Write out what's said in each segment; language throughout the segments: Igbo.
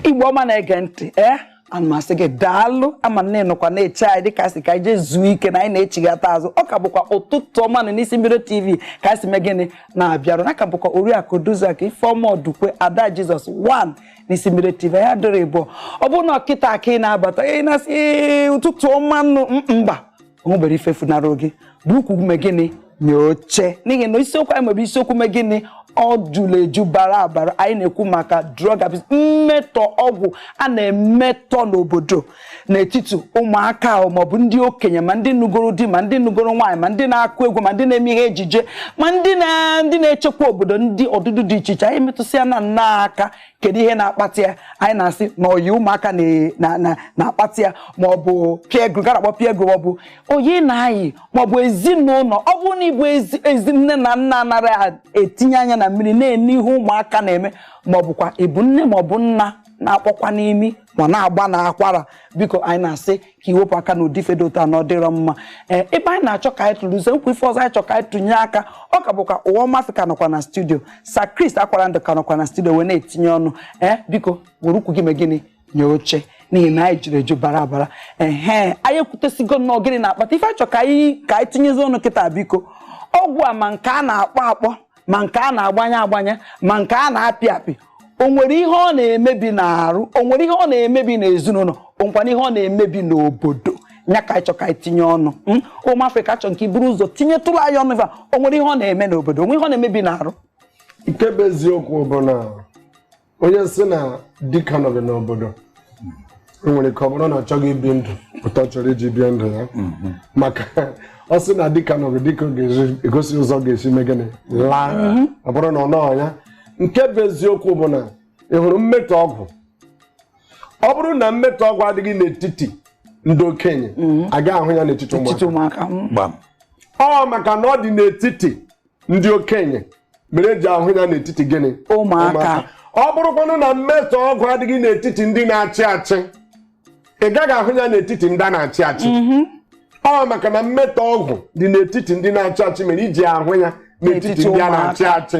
igbo ọma na-ege ntị ee eh? ana m asị gị daalụ ama m na ị nọkwa na-eche anyị dịka sị ka anyị jee zuo ike na anyị na-echighata azụ ọ ka bụkwa ụtụtụ ọma nụ n'isi mbido tv ka anyị si mee gịnị na-abịarụ unu ọ ka bụkwa oriakụ odoziakụ ifeọma ọdụkwe ada jizọs 1 n'isi mbido tv ya dịrị ịbụọ ọ bụrụ na ọ kịta ka ị na-abata anyị na-asị ụtụtụ ọma nụ mba onwebere ife funara gị buru ukwu mee gịnị nye oche n'ihi na isiokwu anyị nwere isiokwu mee gịnị o juru eju bara abara anyị na-ekwu maka drug abuse mmetọ ọgwụ a na-emetọ n'obodo n'etiti ụmụaka maọbụ ndị okenye ma ndị nụgoro di ma ndị nụgoro nwaanyị ma ndị na-akụ egwu ma ndị na-eme ihe ejije ma ndị na-echekwa obodo ndị ọdụdụ dị iche iche anyị metụsịa na nna aka kedu ihe na-akpata ya anyị na-asị na ọyị ụmụaka na-akpata ya ma ọ bụ peer group ka a na-akpọ peer group ma ọ bụ ọyị na-ayị ma ọ bụ ezinụlọ ọ bụrụ na ị bụ ezi nne na nna anaghị etinye anya na mmiri na-ene ihe ụmụaka na-eme ma ọ bụkwa ị bụ nne ma ọ bụ nna na-akpọkwa n'imi ma na-agba na akwara biko anyị na-asị ka i wepụ aka n'ụdị ife dị otu a na ọ dịrọ mma ee ebe anyị na-achọ ka anyị tụlezie nkwa ife ọzọ anyị chọ ka anyị tụnye aka ọ ka bụkwa ọma afrịka nọkwa na studio sir chris akwara ndụ ka nọkwa na studio wee na-etinye ọnụ ee biko were ukwu gị mee gịnị nye oche n'ihi na anyị juru eju bara abara ehe anyị ekwutesigo nnọọ gịnị na-akpata ife anyị chọ ka anyị ka anyị tinyezi ọnụ kịta biko ọgwụ a ma nke a na-akpọ akpọ ma nke a na-agbanye agbanye ma nke a na-apị apị o nwere ihe ọ na-emebi n'arụ o nwere ihe ọ na-emebi n'ezinụlọ o nwekwara ihe ọ na-emebi n'obodo nya ka anyị chọ ka anyị tinye ọnụ hmm? ọma afrịka achọrọ m ka i buru ụzọ tinyetụrụ anyị ọnụ ife o nwere ihe ọ na-eme n'obodo o nwere ihe ọ na-emebi n'arụ nke bụ eziokwu bụ na onye sị na dike anọghị n'obodo o nwere ike ọ bụrụ na ọ chọghị ibi ndụ otu a chọrọ iji bie ndụ ya mhm. maka ọ sị na dike anọghị dike ga-egosi ụzọ ọ ga-esi mee gịnị laa mhm. ọ bụrụ na ọ nọọ ya nke bụ eziokwu bụ na ị hụrụ mmetọ ọgwụ ọ bụrụ na mmetọ ọgwụ adịghị n'etiti ndị okenye mhm. agaghị ahụ ya n'etiti ụmụaka ọ maka na ọ dị n'etiti ndị okenye mere eji ahụ ya n'etiti gịnị ụmụaka ọ bụrụkwanụ na mmetọ ọgwụ adịghị n'etiti ndị na-achị achị ị gaghị ahụ ya n'etiti ndị a na-achị achị mhm. ọ maka na mmetọ ọgwụ dị n'etiti ndị na-achị achị mere iji ahụ ya n'etiti ndị a na-achị achị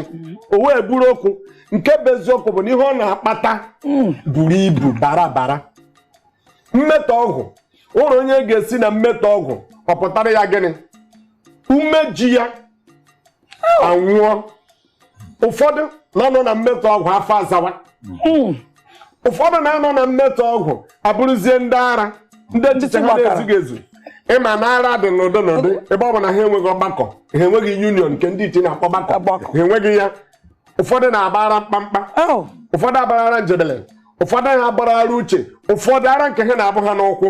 o wee bụrụ okwu nke bụ eziokwu bụ na ihe ọ na-akpata mm. buru ibu bara abara mmetọ ọgwụ uru onye ga-esi na mmetọ ọgwụ ọ pụtara ya gịnị umeji ya anwụọ ụfọdụ na-anọ na mmetọ ọgwụ afọ azawa hmm. ụfọdụ na-anọ na mmetọ ọgwụ abụrụzie ndị ara ndị echiche ha na-ezughị ezu ịma na ara dị n'ụdị n'ụdị ebe ọ bụ na ha enweghị ọgbakọ ha enweghị union nke ndị iche na-akpọ ọgbakọ ha enweghị ya ụfọdụ na-agba ara mkpamkpa oh. ụfọdụ agbara ara njedele ụfọdụ ha gbara ara uche ụfọdụ ara nke ha na-abụ ha n'ụkwụ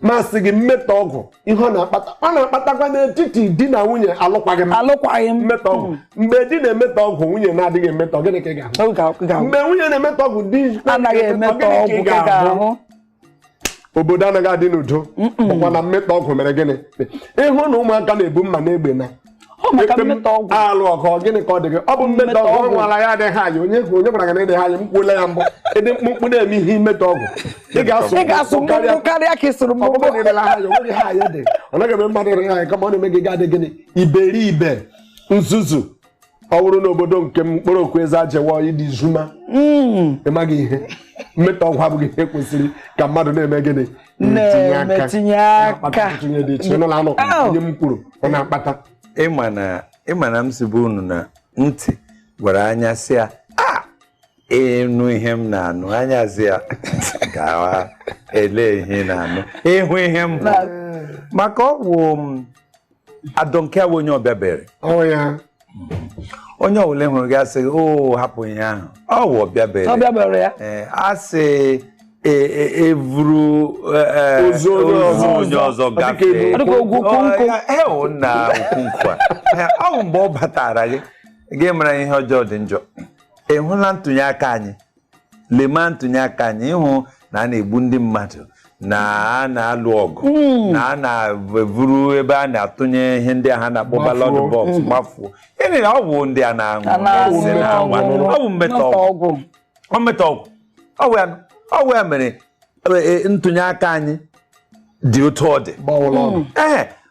masị gị mmetọ ọgwụ ihe ọ na-akpata ọ na-akpatakwa n'etiti di na nwunye alụkwaghị m alụkwaghị m mmetọ ọgwụ hmm. mgbe di na-emetọ ọgwụ nwunye na-adịghị emetọ gịnị ka ị ga-ahụ mgbe nwunye na-emetọ ọgwụ di anaghị emetọ ọgụ ka ị ga-ahụ obodo anaghị adị n'udo bụkwa na mmetọ ọgwụ mere gịnị ị hụ na ụmụaka na-ebu mma na egbe na-alụ ọgụ gịnị ka ọ dị gị ọ bụ mmetọ ọgwụ nwara ya adịghị high onye hụ onye gwara gị na ị dịghị high mkpụla ya mbụ ị dị mkpụmkpụ na-eme ihe i metọ ọgwụ ị ga-asụ mkpụmkpụ karịa ka ị sụrụ mkpụmkpụ ọbụbụ nịrịla ha ya onweghị ha ya dị ọ naghị eme mmadụ dịrị high kama ọ na-eme gị ga-adị gịnị iberibe nzuzu ọ bụrụ na obodo nke m mkpụrụ okwu eze ajewa ịdị zuma hmm. ị maghị ihe mmetọ ọgwụ abụghị ihe kwesịrị ka mmadụ na-eme gịnị na-emetinye aka oh. onye m kwuru ọ na-akpata ị ma na m sibu unu na ntị gwara anya sị ya ah! ị nụ ihe m na-anụ anya sị ya gawa ele ihe na-anụ ị hụ ihe m maka ọ wụ I don't care awụ onye ọbịa bere ọ wụ ya onye ọbụla hụrụ gị asị o oh, hapụ ihe ahụ ọ wụ ọbịa bere ọbịa bere ya eh, asị e, e, e vuru e, ozu onye ọzọ gafee ọ na ukwu nkụ ọ bụ mgbe ọ batara gị gị mara ihe ọjọọ dị njọ ị hụla ntụnye aka anyị lema ntụnye aka anyị ị hụ na a na-egbu ndị mmadụ na a na-alụ ọgụ hmm. na a na-evuru ebe a na-atụnye ihe ndị a ha na-akpọ ballot box hmm. gbafuo ịnị na ọgwụ ndị a na-aṅụ ọ bụ mmetọ ọgwụ ọ mmetọ ọgwụ ọ wụ ya mere e, e, ntụnye aka anyị dị otu ọ dị ee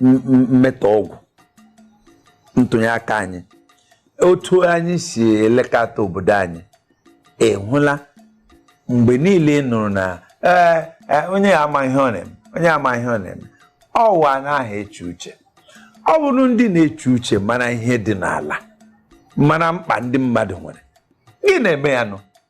mmetọ ọgwụ ntụnye aka anyị otu anyị si elekọta obodo anyị ị hụla mgbe niile nụrụ na ee e, onye ya ama ihe ọ na-eme onye ama ihe ọ na-eme ọ wụ anaghị eche uche ọ bụrụ ndị na-eche uche mara ihe dị n'ala mara mkpa ndị mmadụ nwere gị na-eme ya nụ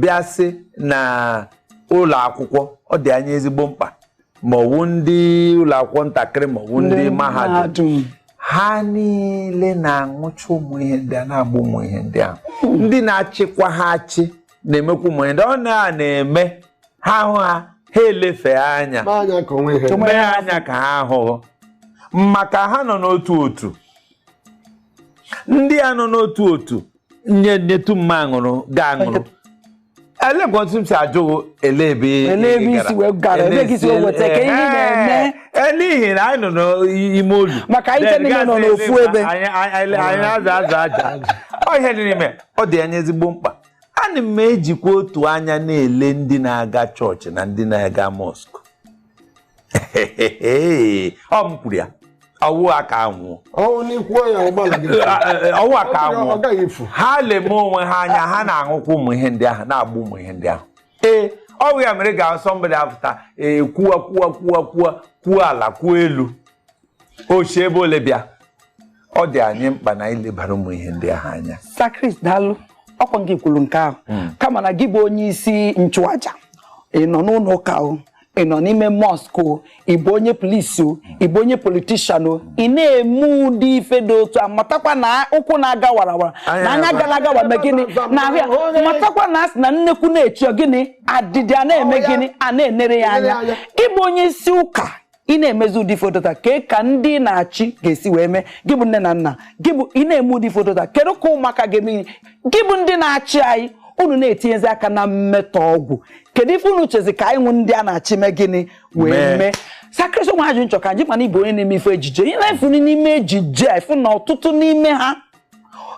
bịa sị na ụlọ akwụkwọ ọ dị anyị ezigbo mkpa ma ọwụ ndị ụlọ akwụkwọ ntakịrị ma ọwụ ndị mahadum ha niile na-aṅụcha ụmụ ihe ndị a na-agba ụmụ ihe ndị ahụ hmm. ndị na-achịkwa ha achị na-emekwa ụmụ ihe ndị ọ na na-eme ha hụ ha ha elefee ha anya mee anya ka ha hụghụ maka ha nọ n'otu otu ndị a nọ n'otu otu nye nyetu mma aṅụrụ ga aṅụrụ elekwasị m si ajụ ele ebe isi wee gara ebe gị si weta ka ihe na-eme e, n'ihi na anyị nọ n'ime olu maka anyị niile nọ n'ofu ebe anyị aza aza aja ọ ihe dị n'ime ọ dị anyị ezigbo mkpa ana m ejikwa otu anya na-ele ndị na-aga chọọchị na ndị na-aga mọskụ ọ m kwuru ya ọwụ ha ka aṅụ ọwụ ha ka aṅụ ha leme onwe ha anya ha na-aṅụkwa ụmụ ihe ndị ahụ na-agba ụmụ ihe ndị ahụ ee ọwụ ya mere ga sọmbọdị apụta ee kwuwa kwuwa kwuwa kwuo ala kwuo elu o si ebe ole bịa ọ dị anyị mkpa na anyị lebara ụmụ ihe ndị ahụ anya Sir Chris daalụ ọkwa gị kwuru nke ahụ kama na gị bụ onye isi nchụaja ị nọ n'ụlọ ụka o ị nọ n'ime mọsk o ị bụ onye polisi o ị bụ onye politishan o ị na-eme ụdị ife dị otu a matakwa na ụkwụ na-aga warawara na anya na-aga warawara na-eme gịnị na-ahụ ya matakwa na a sị na nnekwu na-echi ọ gịnị adịdị a na-eme gịnị a na-enere ya anya gị bụ onye isi ụka ị na-emezi ụdị ife dị otu a kee ka ndị na-achị ga-esi wee mee gị bụ nne na nna gị bụ ị na-eme ụdị ife dị otu a kedu ka ụmụaka ga-eme ihe gị bụ ndị na-achị anyị unu na-etinyezi aka na mmetọ ọgwụ kedu ife unu chezi ka anyị wụ ndị a na-achị mee gịnị wee mee Sir Chris o nwe ajụjụ m chọ ka m jụ mana ị bụ onye na-eme ife ejije ị na-efu n'ime ejije a ị fụ na ọtụtụ n'ime ha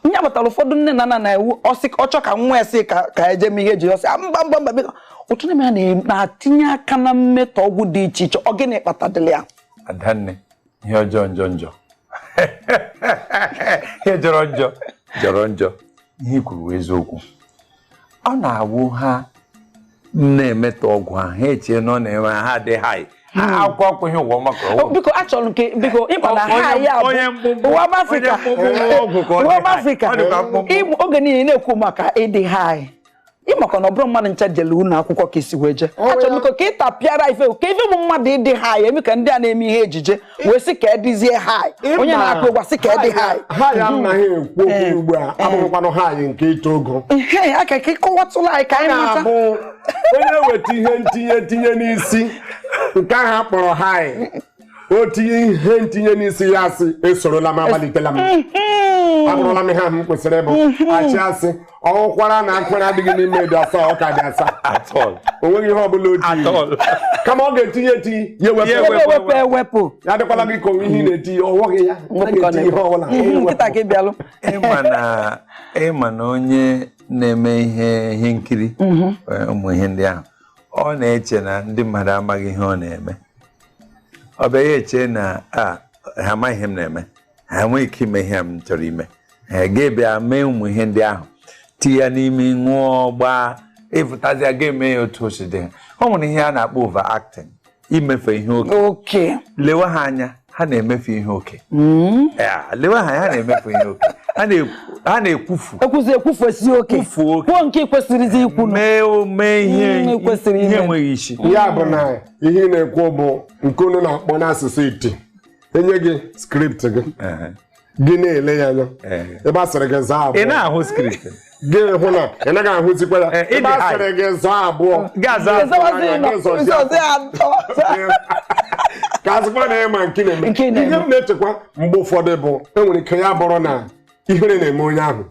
nya kpatara ụfọdụ nne na nna na-ewu ọ sị ọ chọ ka nwa esi ka ka eje mee ihe ejije ọ sị ah, mba mba mba biko ọtụtụ n'ime ha na-atinye aka na mmetọ ọgwụ dị iche iche ọ gịnị kpatadịrị ya adanne ihe ọjọọ njọ njọ ihe jọrọ njọ jọrọ njọ ihe i kwuru wụ eziokwu ọ na-awụ ha na-emetọ ọgwụ ahụ ha echee na ọ na-eme ha dị haị akwụkwọ akwụghị ụgwọ maka ọgwụ oh, biko achọrọ nke biko ị ma na haị a bụ ụwa afrịka ụwa afrịka oge niile na-ekwu maka ịdị haị ị makwa na ọ bụrọ mmadụ ncha jele ụlọ akwụkwọ ka i si wee jee achọrọ m ka ị tapịara ife kee ife bụ mmadụ ịdị haị eme ka ndị a na-eme ihe ejije wee sị ka a dịzie hai onye na-akụ egwu sị ka a dị hai hai a anyị na-ekwu okwu eh. ugbu a eh. abụghịkwanụ hai nke ito ogo aka ka ị kọwatụla anyị ka anyị mata onye weta ihe ntinye tinye n'isi nke ahụ a kpọrọ hai o tinye ihe ntinye n'isi ya asị esorola m amalitela m abụrụla m ihe ahụ m kwesịrị ịbụ achị asị ọ hụkwara na nkwere adịghị n'ime dị asaa ọ ka dị asaa o nweghị ihe ọbụla otu kama ọ ga-etinye etinye ya ewepụ ewepụ ya adịkwala gị ka ihe ị na-etinye ọ nweghị ya na-etinye ihe ọbụla nkịtị ka ị bịalụ ị ma na onye na-eme ihe nkiri mhm. eh, ụmụ ihe ndị ahụ ọ na-eche na ndị mmadụ amaghị ihe ọ na-eme ọ bịa ya eche na ah, ha amaghị ihe m na-eme ha enweghị ike ime ihe m chọrọ ime ha ga-ebịa mee ụmụ ihe ndị ahụ tinye ya n'ime ṅụọ gbaa ịfụtazịa ga-eme ya otu o si dị o nwere ihe a na-akpọ over acting imefe ihe oke lewe ha anya ha na-emefe ihe oke hmm? lewe ha anya ha na-emefe ihe oke ha na-ekwufu ekwuzi ekwufu esi oke kwufuo oke kwuo nke kwesịrịzi ikwu mee ihe enweghị isi ya bụ na ihe na-ekwu bụ nke unu na-akpọ n'asụsụ iti e nye gị script gị gị na-ele ya anya ebe a sịrị gị zaa abụọ ị na-ahụ script gị hụ na ị naghị ahụzikwa ya ebe a sịrị gị zaa abụọ ka a sịkwa na ị ma nke ị na-eme ihe m na-echekwa mgbe ụfọdụ bụ e nwere ike ya bụrụ na ihere na-eme onye ahụ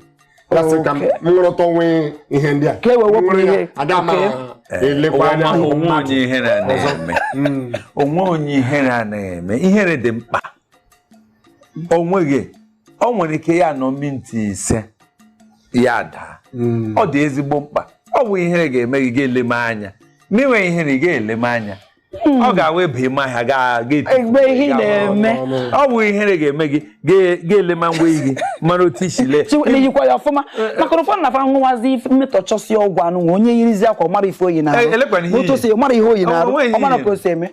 ya sị ka m Okay. nrụta onwe ihe ndị a Ka e wee wepụ Nwere ya, ihe. aga m Okay. elekwa anya Ọma, hụ o nwe onye ihere anaghị eme ihere dị mkpa o nweghị o nwere ike ya nọ minti ise ya daa Mm. ọ dị ezigbo mkpa ọ bụ ihere ga-eme gị ga-eleme anya n'inwe ihere ị ga-eleme anya Hmm. ọ ga-awụ ebe ịma ahịa ga-egbe ihe ị na-eme ọ bụ ihere ga-eme gị ga-elema ngwa gị mara otu i si lee na-eyikwa ya ọfụma eh, eh. maka ụfọdụ na-afa nwụwazi mmetọchọsi ọgwụ anụ nwa onye yirizi akwa mara ife o yi na-arụ eh, otu o si mara ihe o yi na-arụ ọ mara ka o si eme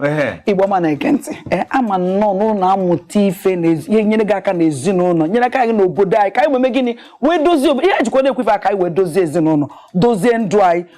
igbo ọma na-ege ntị ama nnọọ n'ụlọ amụta ife ihe nyere gị aka n'ezinụlọ nyere aka gị n'obodo anyị ka anyị wee mee gịnị wee dozie ihe jikwa na-ekwefe aka anyị wee dozie ezinụlọ dozie ndụ anyị